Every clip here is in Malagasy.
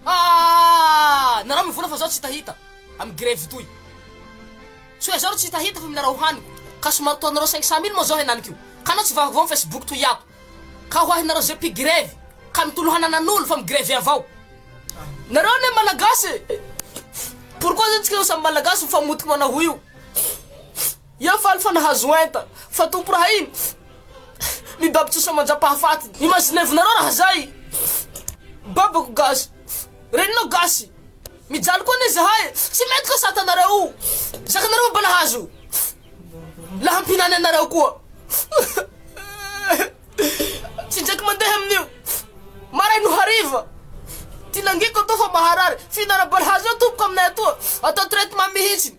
Aah! Narao mivola fa zao tsy hitahita am grevy toy. Tsy hoe zao ry tsy hitahita fa mila rah hohaniko ka somary toa narao cinq cent mille moa zao henaniko io ka anao tsy vahovaho am facebook toy ato ka ho ahy narao ze mpi grevy ka mitolo hanana nolo fa mi grevy avao nareo anie malagasy e! Pourquoi zany tsika samy malagasy mifamotiky manahoa io. Ia faly fa nahazo enta fa tompo raha iny mi bab tsosa manjapahafaty imazinevinareo raha zay babako gasy reninao gasy mijaly koa anie zahay tsy mety ka sata nareo o zakanareo mba nahazo lahampinany anareo koa tsy jaky mandeha amin'io maray no hariva tinangiko atao fa maharary finarabalahazo eo tompoko aminay atoa atao traitement mihitsy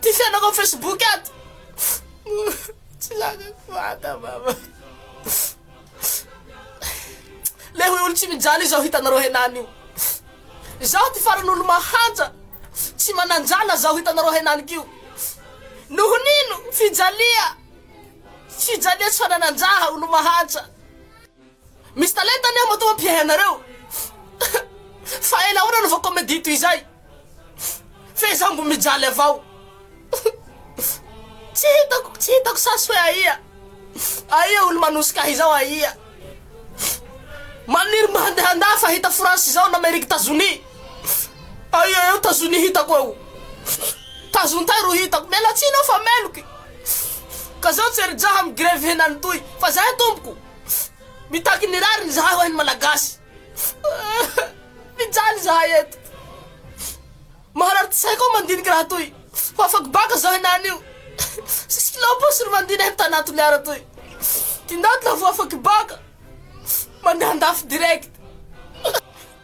Ty fiainako am Facebook ato Tsy lakako vata mama Le hoy olo tsy mijaly izao hitanareo henany io Zaho ty farany olo mahanja Tsy mananjala zaho hitanareo henany kio Nohonino fijalia Fijalia tsy fananan-jaha olo mahanja Misy talenta anie matoa mpiahy anareo fa ela ahoana no vao comedie toy izay fehezango mijaly avao tsy hitako tsy hitako sasy hoe aia aia olo manosika ahy izao aia maniry mba handeha andaha fa hita france izao na meriky tazonia aia eo tazonia hitako eo tazontay ro hitako mialatsiny aho fa meloky ka zao tsy erijaha migrevy henany toy fa zay tompoko Mitaky ny rariny izahay hoahy ny Malagasy. Mijaly izahay eto. Maharary tsy saiko mandinika raha toy. Fa afako baka izao henany io. Sisy kilao posy ry mandina eto tanaty miara toy. Tindaty lavo afako baka. Mandeha andafy direct.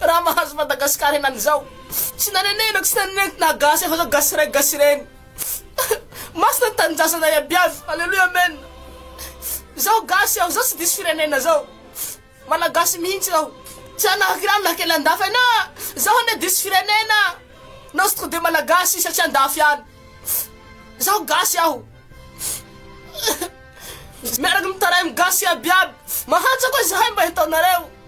Raha mahazo Madagascar henany zao Tsy nanenenako tsy nanenenako na gasy efa zao gasy ray gasy reny Masina ny tanindrazana iabiaby Aleloia Amen Zao gasy aho zao tsy diso firenena zao Malagasy mihintsy aho Tsy hanahaka irano na kely andafy ana Zaho anie diso firenena Nao tsy tode Malagasy satria andafy any Zaho gasy aho Miaraka mitaraim gasy iabiaby Mahantra koa zahay mba hitaonareo